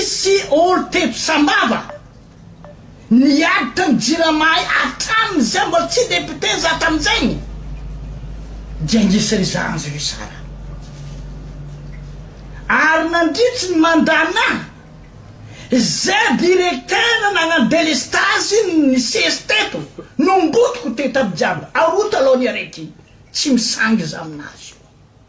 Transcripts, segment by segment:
Misy olo teto sambava niaditra ny jirama atram zay mbola tsy député za tamzegny dia nisy ry zandry ry zara ary nandritry ny mandat na zay directeur nagnano délestage nisesy teto nombotiko teto aby jiaby aroa talon ny arety tsy misangy za aminazy io.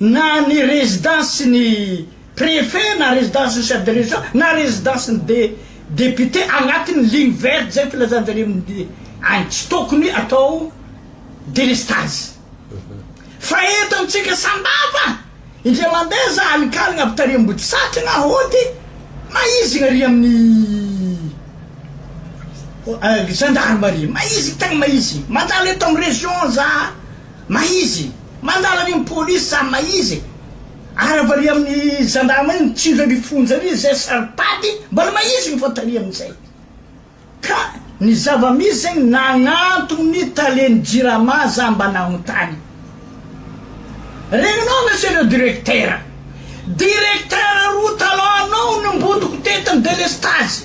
Na ny rezidansin' ny prefe na rezidansin' ny chef de region na rezidansin' ny de depiote anatin' ny ligne verte izay ny filazan-jareo amin' ny any tsy tokony atao delestazy fa eto amintsika sambava indray mandeha za alin-kalina avy tary Ambodisatrana na hody maizina ary amin' ny gendarmerie maizina tegna maizina mandalo eto amin' ny region za. Mahizy. Mandala ny polisy samy mahizy e. Ary avariha amin'ny zandama iny tsindry any fonja any izy zay saropady mbola mahizy ny fantany amin'izay. Ka ny zava-misy zay nagnantony ny talen'ny jirama za mba nagnontany. Regninao monsieur le directeur. Directeur roa talon anao no nimbotoko teto ny delestazy.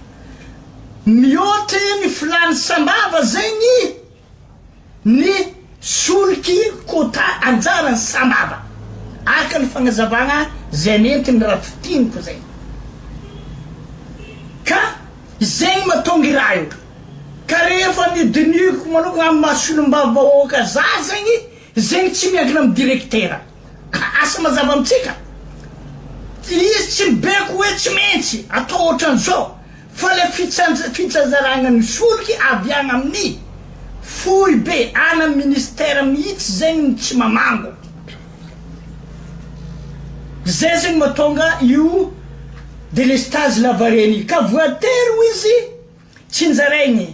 Mihoatry ny filàny sambava zegny ny solky quota anjaran'ny sambava, araka ny fagnazavagna zay nentin'i Rafitiniko zay. Ka zegny mahatonga i raha io. Ka rehefa ny dinihiko manokagna amin'ny maha solombavambahoaka za zegny, zegny tsy miankina amin'ny direktera. Ka asa mazava amintsika. Izy tsy mibeko hoe tsy maintsy atao ohatran'izao fa le fitsanzaragna ny solika avy agny amin'ny foibe ana ny ministera mihitsy zegny no tsy mamango. Zay zegny mahatonga io délestage lavareny io ka voatery ho izy tsinjaraigny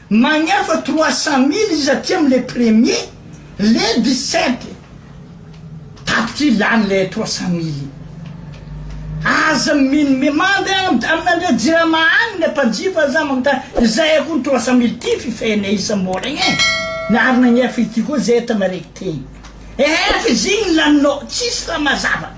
Magnefa trois cent mille izy aty am le premier le dix sept tapitra io lany le trois cent mille io aza mino mi mande amina ndre jirama any le mpanjifa za magnontany izay akory ny trois cent mille ty fifehane isam oragna e ny ary nagnefa ity koa zay tana rekiteny ehe fa izy igny laninao tsisy raha mazava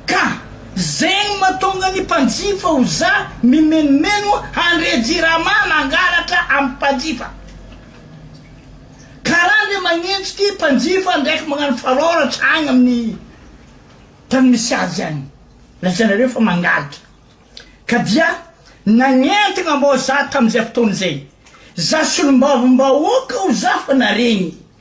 Ka zegny matonga ny mpanjifa ho za mimenomeno handre jirama mangalatra am mpanjifa kara ndre magnenjy ty mpanjifa ndraiky magnano faroratra agny aminy tany misy azy agny lazainareo fa mangalatra ka dia nagnentagna mbô za tamizay fotoana zay za solombavambahoaka ho za fa naregny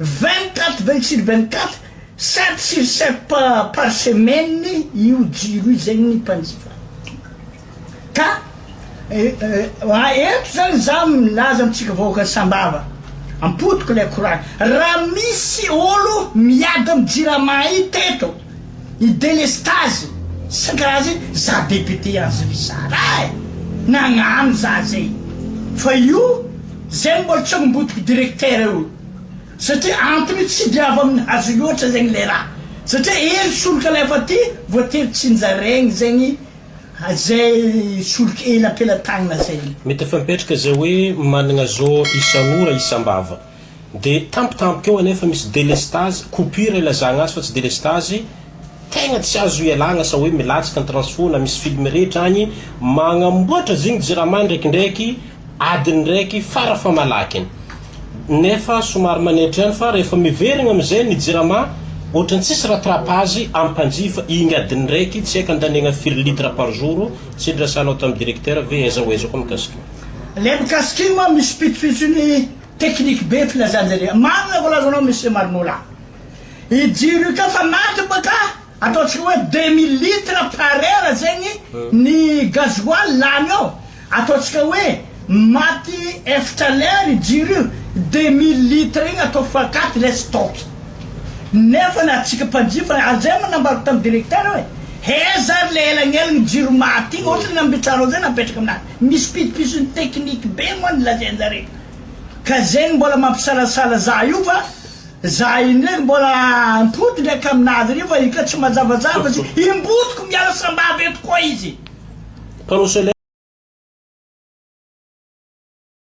Vingt quatre vingt sur vingt quatre, sept sur sept pa par semaine io jiro io zegny ny mpanjifa ka eh eto zany za milaza amintsika vahoaka sambava ampodiko lay koragna raha misy olo miady am jirama io teto I delestazy sy ny karazany za député azy ry zara eh! nagnano za zay fa io zegny mbola tsy agnambodiko directeur eo satria antony io tsy de avy aminy hazo loatra zegny le raha satria ely solika lay fa ty voatery tsinjaraigny zegny zay solika ela am-pelatagnana zay. Mety efa mipetraka izay hoe managna zoo isan'ora isam-bava. Dia tampotampoka eo anefa misy delestazy, coupure ilazagna azy fa tsy delestazy, tegna tsy azo ialagna sao hoe milatsaka ny transfo na misy film rehetra agny, magnamboatra zigny jirama ndraikindraiky adiny raiky fara famalakiny. Nefa somary manetra ihany fa rehefa miverigna amizay ny jirama ohatran'ny tsisy rattrapage ampanjifa igny adiny raiky tsy haiko andaniagna firy litre par jour, tsy hidrasanao tam directeur ve aiza ho aiza koa mikasika io. Le mikasika igny moa misy pitsopitsony. Technique be filazanjy re. Marina ny voalazanao Monsieur Marinola. I jiro io ka fa maty moa ka ataontsika hoe deux mille litres par heure zegny ny gasoil lany ao. Ataontsika hoe maty efatra lera i jiro io, deux mille litres igny atao fois quatre ilay stock. Nefa na antsika mpanjifa, ary zay moa nambarako tamin'ny directeur hoe heza ary le elagnelagny jiro maty igny, ohatry ny nambitrahanao zay napetraka aminazy. Misy pitsopitsony technique be moa ny lazainjareo ka zay no mbola mampisalasala za io fa za indray mbola ampody ndraiky aminazy reo fa io ka tsy mazavazava sy imbotiko miala sambava eto koa izy. Mpanao solaire